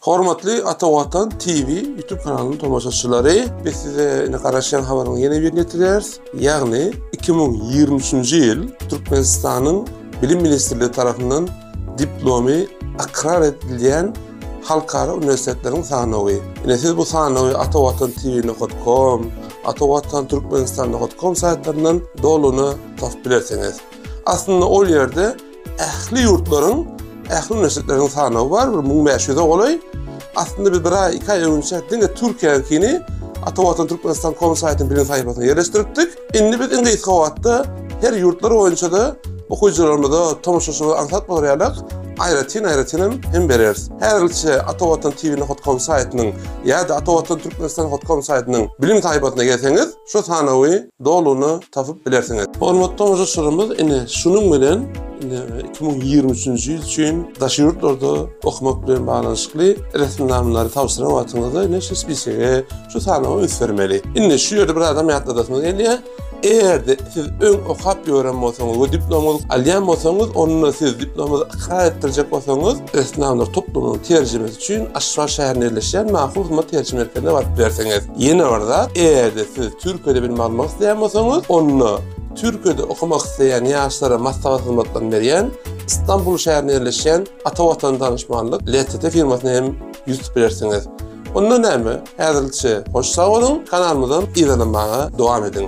Hormatly Ata Watan TV YouTube kanalynyň tomaşaçylary, biz size indi garaşýan habaryň ýene birini ýetirýäris. Ýagny 2023-nji ýyl Türkmenistanyň Bilim ministrligi tarapyndan diplomy ykrar edilýän halkara uniwersitetleriň sanawy. Ine siz bu sanawy Ata Watan TV nokat kom, Ata Watan Türkmenistan nokat kom saýtlaryndan dolugyna tapyp bilersiňiz. Aslynda ol ýerde Ähli ýurtlaryň, ähli uniwersitetleriniň sanawy bar, bir müň bäş ýüze golaý. Aslynda biz bir aý, iki aý öňünçä diňe Türkiýäniňkini Atawatan Türkmenistan kom saýtynyň birinji sahypasyna ýerleşdiripdik. Indi biz iň gysga wagtda her ýurtlar boýunça-da okyjylarymyza, tomaşaçylarymyza aňsat bolar ýalyk aýratyn-aýratyn hem bereris. Häzirlikçe Atawatan TV nokat kom saýtynyň ýa-da Atawatan Türkmenistan nokat kom saýtynyň bilim sahypasyna gelseňiz, şu sanawy Doluny tapyp bilersiňiz. Hormatly tomaşaçylarymyz ine şunuň bilen ine iki müň ýigrimi üçünji ýyl üçin daşary ýurtlarda okamak bilen baglanyşykly resminamalar tabşyran wagtyňyzda ine şu spisege şu sanawa üns bermeli. Indi şu ýerde bir zadam ýatladasymyz gelýär. Eger-de siz öň okap ýören bolsaňyz we diplomyňyzy alýan bolsaňyz onda siz diplomyňyzy ykrar etdirjek bolsaňyz, Esnaflar toplumynyň terjimesi üçin Aşgabat şäherinde ýerleşýän Mahur hyzmat terjime merkezine baryp berseňiz. Ýene bir zat, eger-de siz Türkiýede bilim almak isleýän bolsaňyz, onda Türkiýede okamak isleýän ýaşlara maslahat hyzmatlaryny berýän Stambul şäherinde ýerleşýän Ata Watan Danyşmanlyk, LTT, firmasyna hem ýüz tutup bilersiňiz. Onda näme, häzirlikçe hoş sag boluň, kanalymyzam yzarlamaga dowam ediň!